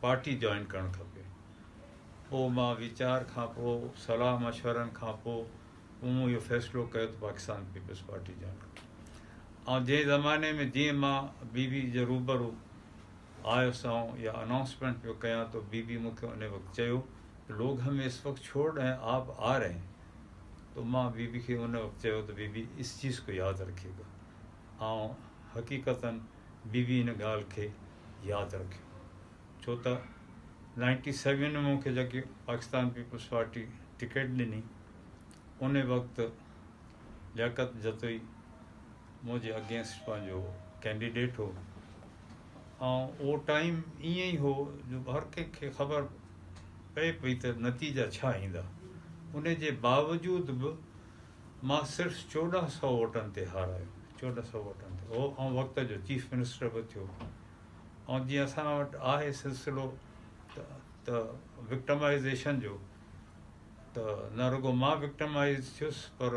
Party join ڪرڻ کپي پوء مان ويچار کان پوء صلاح مشورن کان پوء مون اهو فيصلو ڪيو ته پاڪستان پيپلز پارٽي جوائن ڪري ۽ جنهن زماني ۾ جيئن مان بي بي جي روبرو آيو سائون يا اناؤنسمينٽ پيو ڪيان تو بي بي مون کي ان وقت چيو لوگ همي اس وقت ڇوڙ رهي هين آپ آ رهي هين تو مان بي بي کي ان وقت چيو ته بي بي اس چيز کو ياد رکي گا آئون حقيقتا به به ان ڳالهه کي ياد رکيو ڇو ته نائنٽي سيون ۾ مون کي جيڪي پاڪستان پيپلز پارٽي ٽڪيٽ ڏني ان وقت لياقت جتوئي منهنجي اگينسٽ پنهنجو ڪينڊيڊيٽ هو آئون اهو ٽائيم ائين ئي هو جو هر ڪنهن کي خبر پئي پئي ته نتيجا ڇا ايندا ان جي باوجود به مان صرف چوڏهن سئو ووٽن تي هارايو، چوڏهن سئو ووٽن تي، هو ان وقت جو چيف منسٽر به ٿيو ۽ جيئن اسان وٽ آهي سلسلو ته وڪٽمائيزيشن جو ته نه رڳو مان وڪٽمائيز ٿيس پر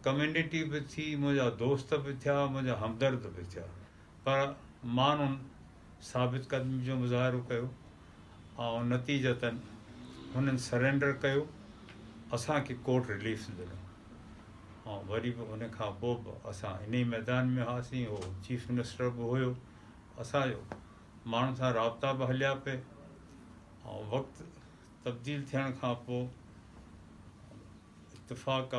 ڪميونٽي به ٿي منهنجا دوست به ٿيا منهنجا همدرد به ٿيا پر ماڻهن ثابت قدمي جو مظاهرو ڪيو ۽ نتيجتاً هنن سرينڊر ڪيو اسان کي ڪورٽ رليف ڏنو ۽ وري به ان کان پوء به اسان ان ئي ميدان ۾ هئاسين هو چيف منسٽر به هيو اسانجو ماڻهن سان رابطا به هليا پئي ۽ وقت تبديل ٿيڻ کان پوء اتفاق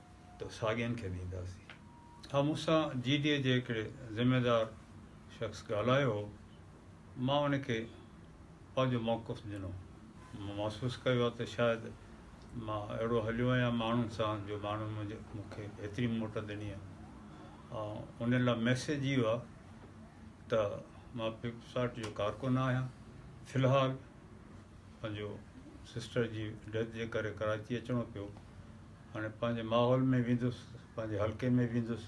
ته ساڳين کي ڏينداسين. ها مون سان جي ڊي اي جي هڪڙي ذميوار شخص ڳالهايو هو، مان ان کي پنهنجو موقف ڏنو، مون محسوس ڪيو آهي ته شايد مان اهڙو هليو آهيان ماڻهن سان جو ماڻهن مون کي ايتري موٽ ڏني آهي ۽ ان لاء ميسيج اهو آهي ته مان پيپلز پارٽي جو ڪارڪن نه آهيان في الحال پنهنجو سسٽر جي ڊيٿ جي ڪري ڪراچي اچڻو پيو هاڻي پنهنجي ماحول ۾ ويندس، پنهنجي حلقي ۾ ويندس،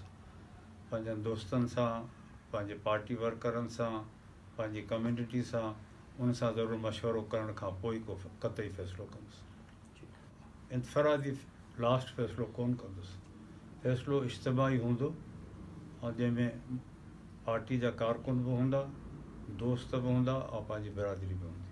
پنهنجن دوستن سان، پنهنجي پارٽي ورڪرن سان، پنهنجي ڪميونٽي سان، ان سان ضرور مشورو ڪرڻ کان پوء ئي ڪو قطعي فيصلو ڪندس. انفرادي لاسٽ فيصلو ڪونه ڪندس. فيصلو اجتماعي هوندو ۽ جنهن ۾ پارٽي جا ڪارڪن به هوندا، دوست به هوندا ۽ پنهنجي برادري به هوندي.